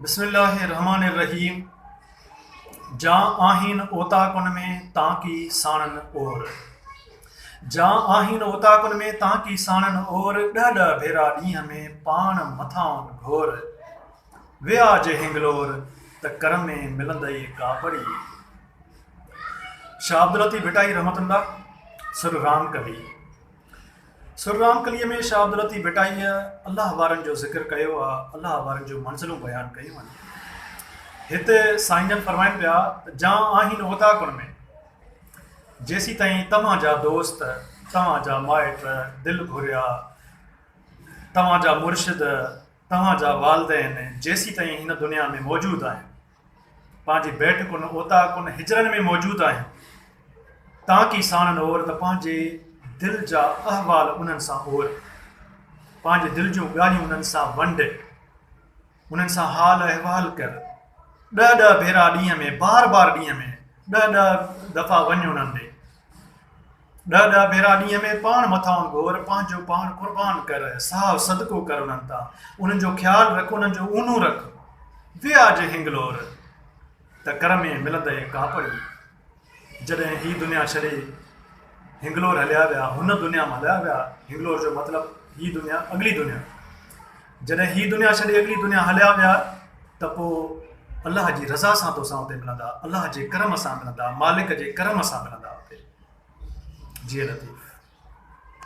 بسم الله الرحمٰن الرحيم جا آهين اوطاقن ۾ تانڪي ساڻن اور جا آهين اوطاقن ۾ تانڪي ساڻن اور ڏهه ڏهه ڀيرا ڏينهن ۾ پاڻ مٿاهون گهور ويا جي هنگلور ته ڪر ۾ ملندئي ڪاپڙي شاهه عبداللطيف ڀٽائي رحمة الله سر رام ڪوي سر رام ڪليء ۾ شاهه عبداللطيف ڀٽائيء الله وارن جو ذڪر ڪيو آ، الله وارن جون منزلون بيان ڪيون آهن. هت سائين جن فرمائن پيا ته جان آهين اوطاقن ۾، جيسين تائين توهان جا دوست، توهان جا مائٽ، دل گهريا، توهان جا مرشد، توهان جا والدين جيسين تائين هن دنيا ۾ موجود آهن. پنهنجي بيٺ ڪن اوطاق ڪن حجرن ۾ موجود آهن تانڪي ساڻن اور ته پنهنجي دل جا احوال انهن سان اور پنهنجي دل جون ڳالهيون انهن سان ونڊ انهن سان حال احوال ڪر ڏهه ڏهه ڀيرا ڏينهن ۾ بار بار ڏينهن ۾ ڏهه ڏهه دفعا وڃ انهن ڏي ڏهه ڏهه ڀيرا ڏينهن ۾ پاڻ مٿاهون گهور، پنهنجو پاڻ قربان ڪر، ساهه صدقو ڪر انهن تان، انهن جو خيال رک، انهن جو اونو رک، وي آء جي هنگلور ته ڪر ۾ ملندئي ڪاپڙي. جڏهن هي دنيا ڇڏي هنگلور هليا ويا، هن دنيا مان هليا ويا، هنگلور جو مطلب هي دنيا، اڳلي دنيا. جڏهن هي دنيا ڇڏي اڳلي دنيا هليا ويا ته پوء الله جي رضا سان توسان اتي ملندا الله جي ڪرم سان ملندا مالڪ جي ڪرم سان ملندا اتي جي لطيف